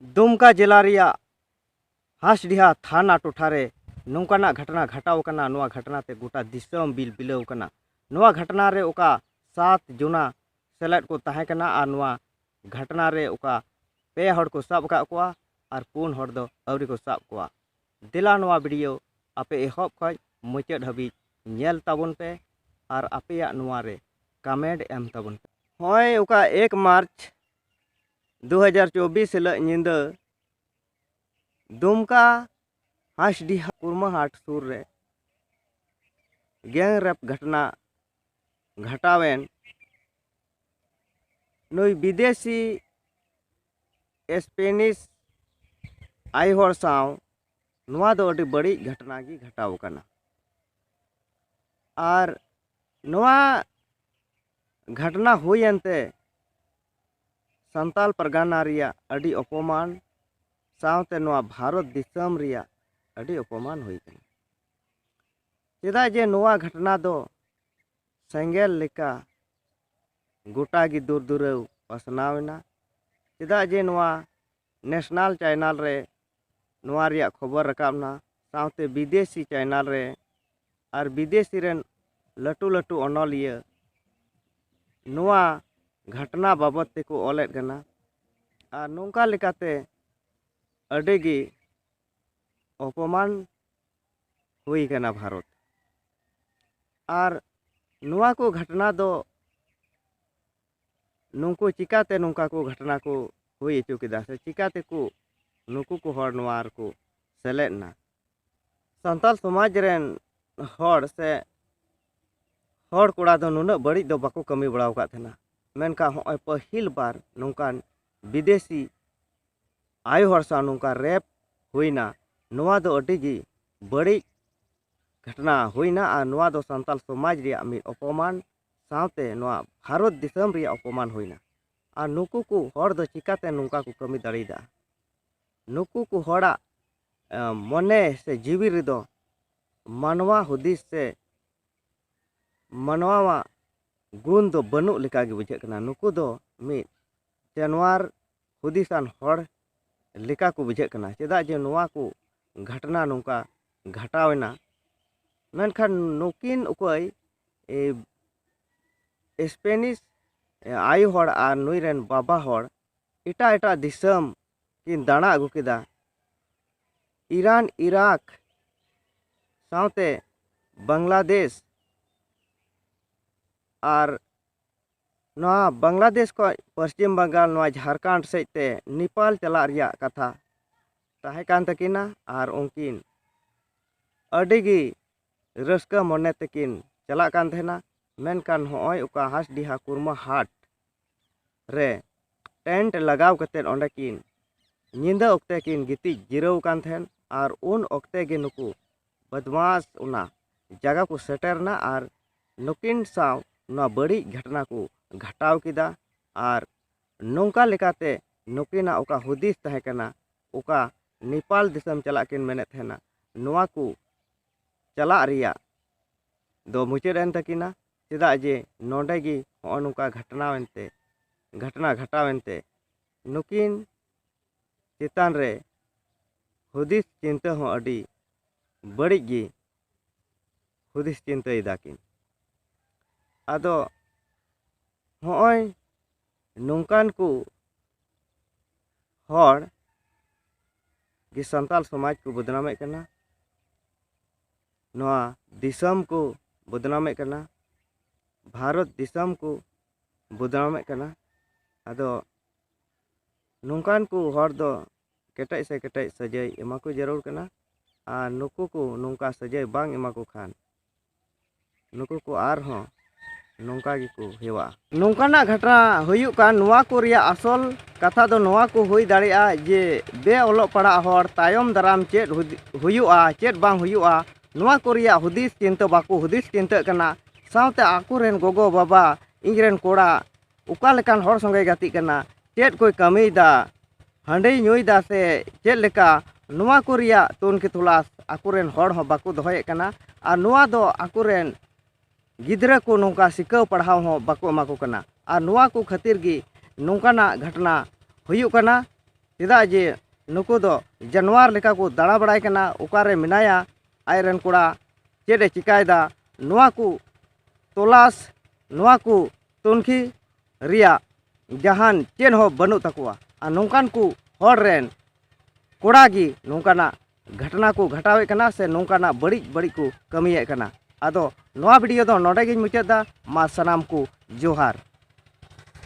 ᱫᱩᱢᱠᱟ ᱡᱮᱞᱟ ᱨᱮᱭᱟᱜ ᱦᱟᱸᱥᱰᱤᱦᱟ ᱛᱷᱟᱱᱟ ᱴᱚᱴᱷᱟ ᱨᱮ ᱱᱚᱝᱠᱟᱱᱟᱜ ᱜᱷᱚᱴᱱᱟ ᱜᱷᱟᱴᱟᱣ ᱟᱠᱟᱱᱟ ᱱᱚᱣᱟ ᱜᱷᱚᱴᱱᱟ ᱛᱮ ᱜᱚᱴᱟ ᱫᱤᱥᱚᱢ ᱵᱤᱞ ᱵᱤᱞᱟᱹᱣ ᱟᱠᱟᱱᱟ ᱱᱚᱣᱟ ᱜᱷᱚᱴᱱᱟ ᱨᱮ ᱚᱠᱟ ᱥᱟᱛ ᱡᱚᱱᱟ ᱥᱮᱞᱮᱫ ᱠᱚ ᱛᱟᱦᱮᱸ ᱠᱟᱱᱟ ᱟᱨ ᱱᱚᱣᱟ ᱜᱷᱚᱴᱱᱟ ᱨᱮ ᱚᱠᱟ ᱯᱮ ᱦᱚᱲ ᱠᱚ ᱥᱟᱵ ᱟᱠᱟᱫ ᱠᱚᱣᱟ ᱟᱨ ᱯᱩᱱ ᱦᱚᱲ ᱫᱚ ᱟᱹᱣᱨᱤ ᱠᱚ ᱥᱟᱵ ᱠᱚᱣᱟ ᱫᱮᱞᱟ ᱱᱚᱣᱟ ᱵᱷᱤᱰᱤᱭᱳ ᱟᱯᱮ ᱮᱦᱚᱵ ᱠᱷᱚᱱ ᱢᱩᱪᱟᱹᱫ ᱦᱟᱹᱵᱤᱡ ᱧᱮᱞ ᱛᱟᱵᱚᱱ ᱯᱮ ᱟᱨ ᱟᱯᱮᱭᱟᱜ ᱱᱚᱣᱟ ᱨᱮ ᱠᱟᱢᱮᱱᱴ ᱮᱢ ᱛᱟᱵᱚᱱ ᱯᱮ ᱦᱚᱸᱜᱼᱚᱭ ᱚᱠᱟ ᱮᱠ ᱢᱟᱨᱪ ᱫᱩ ᱦᱟᱡᱟᱨ ᱪᱚᱵᱽᱵᱤᱥ ᱦᱤᱞᱳᱜ ᱧᱤᱫᱟᱹ ᱫᱩᱢᱠᱟ ᱦᱟᱸᱥᱰᱤᱦᱟ ᱠᱩᱨᱢᱟᱦᱟᱴ ᱥᱩᱨ ᱨᱮ ᱜᱮᱝ ᱨᱮᱯ ᱜᱷᱚᱴᱱᱟ ᱜᱷᱟᱴᱟᱣᱮᱱ ᱱᱩᱭ ᱵᱤᱫᱮᱥᱤ ᱥᱯᱮᱱᱤᱥ ᱟᱭᱳ ᱦᱚᱲ ᱥᱟᱶ ᱱᱚᱣᱟ ᱫᱚ ᱟᱹᱰᱤ ᱵᱟᱹᱲᱤᱡ ᱜᱷᱚᱴᱱᱟ ᱜᱮ ᱜᱷᱟᱴᱟᱣ ᱟᱠᱟᱱᱟ ᱟᱨ ᱱᱚᱣᱟ ᱜᱷᱟᱴᱱᱟ ᱦᱩᱭ ᱮᱱᱛᱮ ᱥᱟᱱᱛᱟᱞ ᱯᱟᱨᱜᱟᱱᱟ ᱨᱮᱭᱟᱜ ᱟᱹᱰᱤ ᱚᱯᱚᱢᱟᱱ ᱥᱟᱶᱛᱮ ᱱᱚᱣᱟ ᱵᱷᱟᱨᱚᱛ ᱫᱤᱥᱚᱢ ᱨᱮᱭᱟᱜ ᱟᱹᱰᱤ ᱚᱯᱚᱢᱟᱱ ᱦᱩᱭ ᱠᱟᱱᱟ ᱪᱮᱫᱟᱜ ᱡᱮ ᱱᱚᱣᱟ ᱜᱷᱟᱴᱱᱟ ᱫᱚ ᱥᱮᱸᱜᱮᱞ ᱞᱮᱠᱟ ᱜᱚᱴᱟ ᱜᱮ ᱫᱩᱨᱫᱩᱨᱟᱹᱣ ᱯᱟᱥᱱᱟᱣ ᱮᱱᱟ ᱪᱮᱫᱟᱜ ᱡᱮ ᱱᱚᱣᱟ ᱱᱮᱥᱱᱟᱞ ᱪᱟᱭᱱᱟᱞ ᱨᱮ ᱱᱚᱣᱟ ᱨᱮᱭᱟᱜ ᱠᱷᱚᱵᱚᱨ ᱨᱟᱠᱟᱵ ᱮᱱᱟ ᱥᱟᱶᱛᱮ ᱵᱤᱫᱮᱥᱤ ᱪᱟᱭᱱᱟᱞ ᱨᱮ ᱟᱨ ᱵᱤᱫᱮᱥᱤ ᱨᱮᱱ ᱞᱟᱹᱴᱩ ᱞᱟᱹᱴᱩ ᱚᱱᱚᱞᱤᱭᱟᱹ ᱱᱚᱣᱟ ᱜᱷᱟᱴᱱᱟ ᱵᱟᱵᱚᱛ ᱛᱮᱠᱚ ᱚᱞᱮᱫ ᱠᱟᱱᱟ ᱟᱨ ᱱᱚᱝᱠᱟ ᱞᱮᱠᱟᱛᱮ ᱟᱹᱰᱤ ᱜᱮ ᱚᱯᱚᱢᱟᱱ ᱦᱩᱭ ᱠᱟᱱᱟ ᱵᱷᱟᱨᱚᱛ ᱟᱨ ᱱᱚᱣᱟ ᱠᱚ ᱜᱷᱟᱴᱱᱟ ᱫᱚ ᱱᱩᱠᱩ ᱪᱤᱠᱟᱹᱛᱮ ᱱᱚᱝᱠᱟ ᱠᱚ ᱜᱷᱚᱴᱚᱱᱟ ᱠᱚ ᱦᱩᱭ ᱦᱚᱪᱚ ᱠᱮᱫᱟ ᱥᱮ ᱪᱤᱠᱟᱹ ᱛᱮᱠᱚ ᱱᱩᱠᱩ ᱠᱚ ᱦᱚᱲ ᱱᱚᱣᱟ ᱨᱮᱠᱚ ᱥᱮᱞᱮᱫ ᱮᱱᱟ ᱥᱟᱱᱛᱟᱲ ᱥᱚᱢᱟᱡᱽ ᱨᱮᱱ ᱦᱚᱲ ᱥᱮ ᱦᱚᱲ ᱠᱚᱲᱟ ᱫᱚ ᱱᱩᱱᱟᱹᱜ ᱵᱟᱹᱲᱤᱡ ᱫᱚ ᱵᱟᱠᱚ ᱠᱟᱹᱢᱤ ᱵᱟᱲᱟ ᱟᱠᱟᱫ ᱛᱟᱦᱮᱱᱟ ᱢᱮᱱᱠᱷᱟᱱ ᱦᱚᱸᱜᱼᱚᱭ ᱯᱟᱹᱦᱤᱞ ᱵᱟᱨ ᱱᱚᱝᱠᱟᱱ ᱵᱤᱫᱮᱥᱤ ᱟᱭᱳ ᱦᱚᱲ ᱥᱟᱶ ᱱᱚᱝᱠᱟ ᱨᱮᱯ ᱦᱩᱭᱱᱟ ᱱᱚᱣᱟ ᱫᱚ ᱟᱹᱰᱤ ᱜᱮ ᱵᱟᱹᱲᱤᱡ ᱜᱷᱚᱴᱚᱱᱟ ᱦᱩᱭᱱᱟ ᱟᱨ ᱱᱚᱣᱟ ᱫᱚ ᱥᱟᱱᱛᱟᱲ ᱥᱚᱢᱟᱡᱽ ᱨᱮᱭᱟᱜ ᱢᱤᱫ ᱚᱯᱚᱢᱟᱱ ᱥᱟᱶᱛᱮ ᱱᱚᱣᱟ ᱵᱷᱟᱨᱚᱛ ᱫᱤᱥᱚᱢ ᱨᱮᱭᱟᱜ ᱚᱯᱚᱢᱟᱱ ᱦᱩᱭᱱᱟ ᱟᱨ ᱱᱩᱠᱩ ᱠᱚ ᱦᱚᱲ ᱫᱚ ᱪᱤᱠᱟᱹᱛᱮ ᱱᱚᱝᱠᱟ ᱠᱚ ᱠᱟᱹᱢᱤ ᱫᱟᱲᱮᱭᱟᱫᱟ ᱱᱩᱠᱩ ᱠᱚ ᱦᱚᱲᱟᱜ ᱢᱚᱱᱮ ᱥᱮ ᱡᱤᱣᱤ ᱨᱮᱫᱚ ᱢᱟᱱᱣᱟ ᱦᱩᱫᱤᱥ ᱥᱮ ᱢᱟᱱᱣᱟᱣᱟᱜ ᱜᱩᱱ ᱫᱚ ᱵᱟᱹᱱᱩᱜ ᱞᱮᱠᱟ ᱜᱮ ᱵᱩᱡᱷᱟᱹᱜ ᱠᱟᱱᱟ ᱱᱩᱠᱩ ᱫᱚ ᱢᱤᱫ ᱡᱟᱱᱣᱟᱨ ᱦᱩᱫᱤᱥᱟᱱ ᱦᱚᱲ ᱞᱮᱠᱟ ᱠᱚ ᱵᱩᱡᱷᱟᱹᱜ ᱠᱟᱱᱟ ᱪᱮᱫᱟᱜ ᱡᱮ ᱱᱚᱣᱟ ᱠᱚ ᱜᱷᱟᱴᱱᱟ ᱱᱚᱝᱠᱟ ᱜᱷᱟᱴᱟᱣᱮᱱᱟ ᱢᱮᱱᱠᱷᱟᱱ ᱱᱩᱠᱤᱱ ᱚᱠᱚᱭ ᱥᱯᱮᱱᱤᱥ ᱟᱭᱳ ᱦᱚᱲ ᱟᱨ ᱱᱩᱭ ᱨᱮᱱ ᱵᱟᱵᱟ ᱦᱚᱲ ᱮᱴᱟᱜ ᱮᱴᱟᱜ ᱫᱤᱥᱚᱢ ᱠᱤᱱ ᱫᱟᱬᱟ ᱟᱹᱜᱩ ᱠᱮᱫᱟ ᱤᱨᱟᱱ ᱤᱨᱟᱠ ᱥᱟᱶᱛᱮ ᱵᱟᱝᱞᱟᱫᱮᱥ ᱟᱨ ᱱᱚᱣᱟ ᱵᱟᱝᱞᱟᱫᱮᱥ ᱠᱷᱚᱱ ᱯᱚᱥᱪᱤᱢ ᱵᱟᱝᱜᱟᱞ ᱱᱚᱣᱟ ᱡᱷᱟᱲᱠᱷᱚᱸᱰ ᱥᱮᱫ ᱛᱮ ᱱᱮᱯᱟᱞ ᱪᱟᱞᱟᱜ ᱨᱮᱭᱟᱜ ᱠᱟᱛᱷᱟ ᱛᱟᱦᱮᱸ ᱠᱟᱱ ᱛᱟᱹᱠᱤᱱᱟ ᱟᱨ ᱩᱱᱠᱤᱱ ᱟᱹᱰᱤ ᱜᱮ ᱨᱟᱹᱥᱠᱟᱹ ᱢᱚᱱᱮ ᱛᱮᱠᱤᱱ ᱪᱟᱞᱟᱜ ᱠᱟᱱ ᱛᱟᱦᱮᱱᱟ ᱢᱮᱱᱠᱷᱟᱱ ᱦᱚᱸᱜᱼᱚᱭ ᱚᱠᱟ ᱦᱟᱸᱥᱰᱤᱦᱟ ᱠᱩᱨᱢᱟᱹ ᱦᱟᱴ ᱨᱮ ᱴᱮᱱᱴ ᱞᱟᱜᱟᱣ ᱠᱟᱛᱮᱫ ᱚᱸᱰᱮ ᱠᱤᱱ ᱧᱤᱫᱟᱹ ᱚᱠᱛᱮ ᱠᱤᱱ ᱜᱤᱛᱤᱡ ᱡᱤᱨᱟᱹᱣ ᱟᱠᱟᱱ ᱛᱟᱦᱮᱱ ᱟᱨ ᱩᱱ ᱚᱠᱛᱮ ᱜᱮ ᱱᱩᱠᱩ ᱵᱚᱫᱢᱟᱥ ᱚᱱᱟ ᱡᱟᱭᱜᱟ ᱠᱚ ᱥᱮᱴᱮᱨ ᱮᱱᱟ ᱟᱨ ᱱᱩᱠᱤᱱ ᱥᱟᱶ ᱱᱚᱣᱟ ᱵᱟᱹᱲᱤᱡ ᱜᱷᱚᱴᱱᱟ ᱠᱚ ᱜᱷᱟᱴᱟᱣ ᱠᱮᱫᱟ ᱟᱨ ᱱᱚᱝᱠᱟ ᱞᱮᱠᱟᱛᱮ ᱱᱩᱠᱤᱱᱟᱜ ᱚᱠᱟ ᱦᱩᱫᱤᱥ ᱛᱟᱦᱮᱸ ᱠᱟᱱᱟ ᱚᱠᱟ ᱱᱮᱯᱟᱞ ᱫᱤᱥᱚᱢ ᱪᱟᱞᱟᱜ ᱠᱤᱱ ᱢᱮᱱᱮᱫ ᱛᱟᱦᱮᱱᱟ ᱱᱚᱣᱟ ᱠᱚ ᱪᱟᱞᱟᱜ ᱨᱮᱭᱟᱜ ᱫᱚ ᱢᱩᱪᱟᱹᱫ ᱮᱱ ᱛᱟᱹᱠᱤᱱᱟ ᱪᱮᱫᱟᱜ ᱡᱮ ᱱᱚᱰᱮ ᱜᱮ ᱦᱚᱸᱜᱼᱚ ᱱᱚᱝᱠᱟ ᱜᱷᱟᱴᱱᱟ ᱮᱱᱛᱮ ᱜᱷᱟᱴᱱᱟ ᱜᱷᱟᱴᱟᱣ ᱮᱱᱛᱮ ᱱᱩᱠᱤᱱ ᱪᱮᱛᱟᱱ ᱨᱮ ᱦᱩᱫᱤᱥ ᱪᱤᱱᱛᱟᱹ ᱦᱚᱸ ᱟᱹᱰᱤ ᱵᱟᱹᱲᱤᱡ ᱜᱮ ᱦᱩᱫᱤᱥ ᱪᱤᱱᱛᱟᱹᱭ ᱫᱟᱠᱤᱱ ᱟᱫᱚ ᱦᱚᱸᱜᱼᱚᱭ ᱱᱚᱝᱠᱟᱱ ᱠᱚ ᱦᱚᱲ ᱜᱮ ᱥᱟᱱᱛᱟᱲ ᱥᱚᱢᱟᱡᱽ ᱠᱚ ᱵᱚᱫᱽᱱᱟᱢᱮᱫ ᱠᱟᱱᱟ ᱱᱚᱣᱟ ᱫᱤᱥᱚᱢ ᱠᱚ ᱵᱚᱫᱽᱱᱟᱢᱮᱫ ᱠᱟᱱᱟ ᱵᱷᱟᱨᱚᱛ ᱫᱤᱥᱚᱢ ᱠᱚ ᱵᱚᱫᱽᱱᱟᱢᱮᱫ ᱠᱟᱱᱟ ᱟᱫᱚ ᱱᱚᱝᱠᱟᱱ ᱠᱚ ᱦᱚᱲ ᱫᱚ ᱠᱮᱴᱮᱡ ᱥᱮ ᱠᱮᱴᱮᱡ ᱥᱟᱹᱡᱟᱹᱭ ᱮᱢᱟ ᱠᱚ ᱡᱟᱹᱨᱩᱲ ᱠᱟᱱᱟ ᱟᱨ ᱱᱩᱠᱩ ᱠᱚ ᱱᱚᱝᱠᱟ ᱥᱟᱹᱡᱟᱹᱭ ᱵᱟᱝ ᱮᱢᱟ ᱠᱚ ᱠᱷᱟᱱ ᱱᱩᱠᱩ ᱠᱚ ᱟᱨᱦᱚᱸ ᱱᱚᱝᱠᱟ ᱜᱮᱠᱚ ᱦᱮᱣᱟᱜᱼᱟ ᱱᱚᱝᱠᱟᱱᱟᱜ ᱜᱷᱟᱴᱱᱟ ᱦᱩᱭᱩᱜ ᱠᱟᱱ ᱱᱚᱣᱟ ᱠᱚ ᱨᱮᱭᱟᱜ ᱟᱥᱚᱞ ᱠᱟᱛᱷᱟ ᱫᱚ ᱱᱚᱣᱟ ᱠᱚ ᱦᱩᱭ ᱫᱟᱲᱮᱭᱟᱜᱼᱟ ᱡᱮ ᱵᱮ ᱚᱞᱚᱜ ᱯᱟᱲᱦᱟᱜ ᱦᱚᱲ ᱛᱟᱭᱚᱢ ᱫᱟᱨᱟᱢ ᱪᱮᱫ ᱦᱩᱭᱩᱜᱼᱟ ᱪᱮᱫ ᱵᱟᱝ ᱦᱩᱭᱩᱜᱼᱟ ᱱᱚᱣᱟ ᱠᱚ ᱨᱮᱭᱟᱜ ᱦᱩᱫᱤᱥ ᱪᱤᱱᱛᱟᱹ ᱵᱟᱠᱚ ᱦᱩᱫᱤᱥ ᱪᱤᱱᱛᱟᱹᱜ ᱠᱟᱱᱟ ᱥᱟᱶᱛᱮ ᱟᱠᱚᱨᱮᱱ ᱜᱚᱜᱚ ᱵᱟᱵᱟ ᱤᱧ ᱨᱮᱱ ᱠᱚᱲᱟ ᱚᱠᱟ ᱞᱮᱠᱟᱱ ᱦᱚᱲ ᱥᱚᱸᱜᱮᱭ ᱜᱟᱛᱮᱜ ᱠᱟᱱᱟ ᱪᱮᱫ ᱠᱚᱭ ᱠᱟᱹᱢᱤᱭᱮᱫᱟ ᱦᱟᱺᱰᱤᱭ ᱧᱩᱭᱮᱫᱟ ᱥᱮ ᱪᱮᱫ ᱞᱮᱠᱟ ᱱᱚᱣᱟ ᱠᱚ ᱨᱮᱭᱟᱜ ᱛᱩᱱᱠᱷᱤ ᱛᱚᱞᱟᱥ ᱟᱠᱚ ᱨᱮᱱ ᱦᱚᱲ ᱦᱚᱸ ᱵᱟᱠᱚ ᱫᱚᱦᱚᱭᱮᱫ ᱠᱟᱱᱟ ᱟᱨ ᱱᱚᱣᱟ ᱫᱚ ᱟᱠᱚ ᱨᱮᱱ ᱜᱤᱫᱽᱨᱟᱹ ᱠᱚ ᱱᱚᱝᱠᱟ ᱥᱤᱠᱷᱟᱹᱣ ᱯᱟᱲᱦᱟᱣ ᱦᱚᱸ ᱵᱟᱠᱚ ᱮᱢᱟ ᱠᱚ ᱠᱟᱱᱟ ᱟᱨ ᱱᱚᱣᱟ ᱠᱚ ᱠᱷᱟᱹᱛᱤᱨ ᱜᱮ ᱱᱚᱝᱠᱟᱱᱟᱜ ᱜᱷᱚᱴᱚᱱᱟ ᱦᱩᱭᱩᱜ ᱠᱟᱱᱟ ᱪᱮᱫᱟᱜ ᱡᱮ ᱱᱩᱠᱩ ᱫᱚ ᱡᱟᱱᱣᱟᱨ ᱞᱮᱠᱟ ᱠᱚ ᱫᱟᱬᱟ ᱵᱟᱲᱟᱭ ᱠᱟᱱᱟ ᱚᱠᱟᱨᱮ ᱢᱮᱱᱟᱭᱟ ᱟᱡ ᱨᱮᱱ ᱠᱚᱲᱟ ᱪᱮᱫ ᱮ ᱪᱤᱠᱟᱹᱭᱮᱫᱟ ᱱᱚᱣᱟ ᱠᱚ ᱛᱚᱞᱟᱥ ᱱᱚᱣᱟ ᱠᱚ ᱛᱩᱱᱠᱷᱤ ᱨᱮᱭᱟᱜ ᱡᱟᱦᱟᱱ ᱪᱮᱫ ᱦᱚᱸ ᱵᱟᱹᱱᱩᱜ ᱛᱟᱠᱚᱣᱟ ᱟᱨ ᱱᱚᱝᱠᱟᱱ ᱠᱚ ᱦᱚᱲ ᱨᱮᱱ ᱠᱚᱲᱟ ᱜᱮ ᱱᱚᱝᱠᱟᱱᱟᱜ ᱜᱷᱟᱴᱱᱟ ᱠᱚ ᱜᱷᱟᱴᱟᱣᱮᱫ ᱠᱟᱱᱟ ᱥᱮ ᱱᱚᱝᱠᱟᱱᱟᱜ ᱵᱟᱹᱲᱤᱡ ᱵᱟᱹᱲᱤᱡ ᱠᱚ ᱠᱟᱹᱢᱤᱭᱮᱫ ᱠᱟᱱᱟ ᱟᱫᱚ ᱱᱚᱣᱟ ᱵᱷᱤᱰᱤᱭᱳ ᱫᱚ ᱱᱚᱰᱮ ᱜᱮᱧ ᱢᱩᱪᱟᱹᱫ ᱮᱫᱟ ᱢᱟ ᱥᱟᱱᱟᱢ ᱠᱚ ᱡᱚᱦᱟᱨ